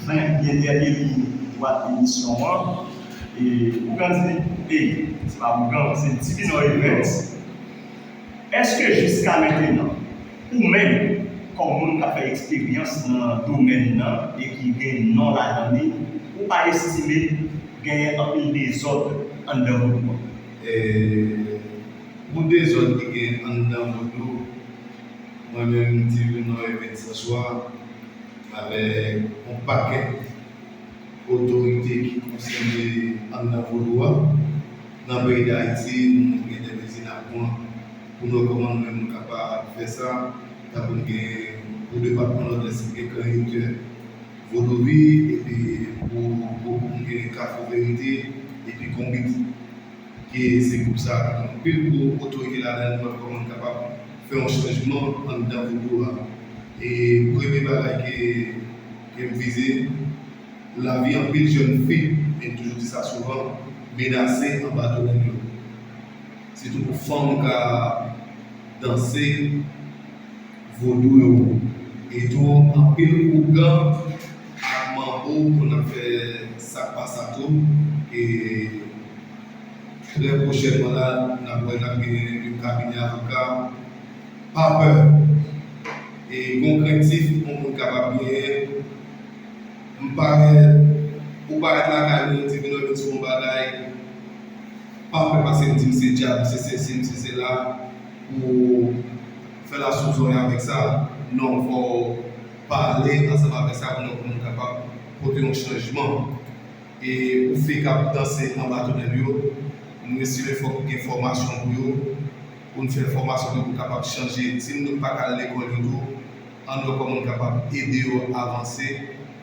Frenk byen dènye liy dwat emisyon an e Ougan di li ey, se pa Ougan, se Divinò Evens, èske jiska mentenan, ou menm kòm moun k ap fè eksperyans nan domèn nan e ki gen non ladan li, ou pa estime genyen anpil dezòd anndan Vodou an? E pou dezòd ki gen anndan Vodou? Mwen menm m te vin wè Medsen Swa avèk yon pakèt otorite ki konsène anndan Vodou a. Nan peyi Dayiti, nou gen de mezi n ap pran pou n wè kòman nou menm nou kapab fè sa. Tankou n gen pou depatman Nòdès ki gen Krèyotè Vodovi epi pou Gwoup nou gen Kafou Verite epi Konbit. ke se gwoup sa ki gen anpil gwo otorite ladan l wè kòman l kapab fè yon chanjman anndan vodou a e premye bagay ke m vize lavi anpil jèn fi e m toujou di sa souvan menase anba do nèg yo sitou pou fanm ka danse vodou yo e tou anpil ougan. Ak manbo konn ap fè sak pa sa tou e trè pwochènman la nap wè nap gen yon kabinè avoka pa pè e gon krentif yon moun kapab genyen m parèt ou parèt lakay nou nou di vin òdon sou yon bagay pa pè pase m di m se dyab m se sesi m se sela pou fè la sou zòrèy avèk sa non fò. Pale ansanm avèk sa pou nou kapab pote yon chanjman. E pou fi kap danse anba tonèl yo, nou estime fòk gen fòmasyon pou yo, pou nou fè fòmasyon pou yo kapab chanje. Si moun yo k paka al lekòl yo tou, ann wè kòman nou kapab ede yo avanse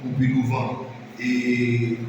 pou pi douvan. E.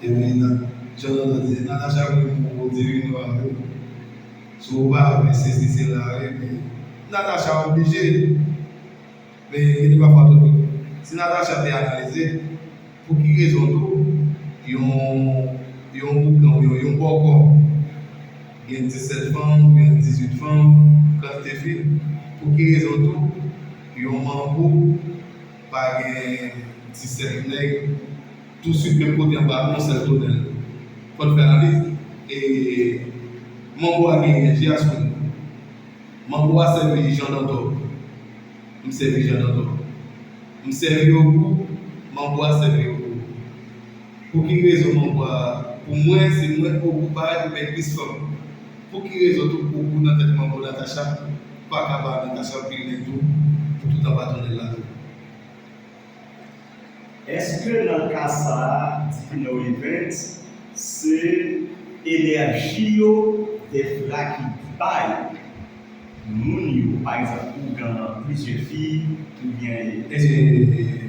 Epi nan Jan Dodo te di Natacha pou m pou pote vin nou an tou si w pa vle se si se la wi epi Natacha oblije men gen de pafwa tou si Natacha te analize pou ki rezon tou yon boukan oubyen yon bòkò gen 17 fanm oubyen 18 fanm kantite fi pou ki rezon tou yon manbo Pa gen 17 nèg tou swiv menm kote anba yon sèl tonèl. Fò'n fè analiz. E manbo a gen enèji a sou li. Manbo a sèvi Jan Dantò. M sèvi Jan Dantò. M sèvi Ogou, manbo a sèvi Ogou. Pou ki rezon mwen bwa a? Pou mwen se mwen ogou bay ou byen tris fanm. Pou ki rezon tout ogou nan tèt manbo Natacha paka ba Natacha pil nèg tou pou tout anba tonnèl la tou. Eske nan ka sa a Dipino Evens se enèji yo Defra ki bay moun yo pa egzanp ougan plizyè fi oubyen. Eee.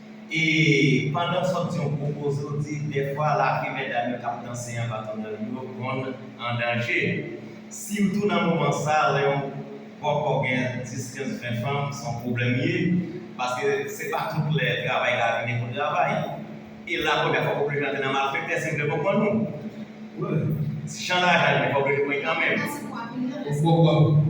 E pandan w sòti yon gwo koze w di dèfwa lavi medam yo k ap danse anba tonnèl yo konn an danje. Sitou nan moman sa lè yon bòkò gen 10, 15, 20 fanm se yon pwoblèm li ye paske se pa tout lè travay ka vini pou travay. E la premyè fwa w oblije antre nan malfektè si m byen konprann ou. Jan lajan vini fò w oblije pran li kanmenm. Ou fò w pa w.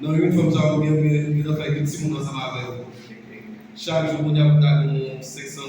Nan inifòm sa yo gen yon zafè ki timoun ansanm avèw chak jou kounya pou ta gen yon 500.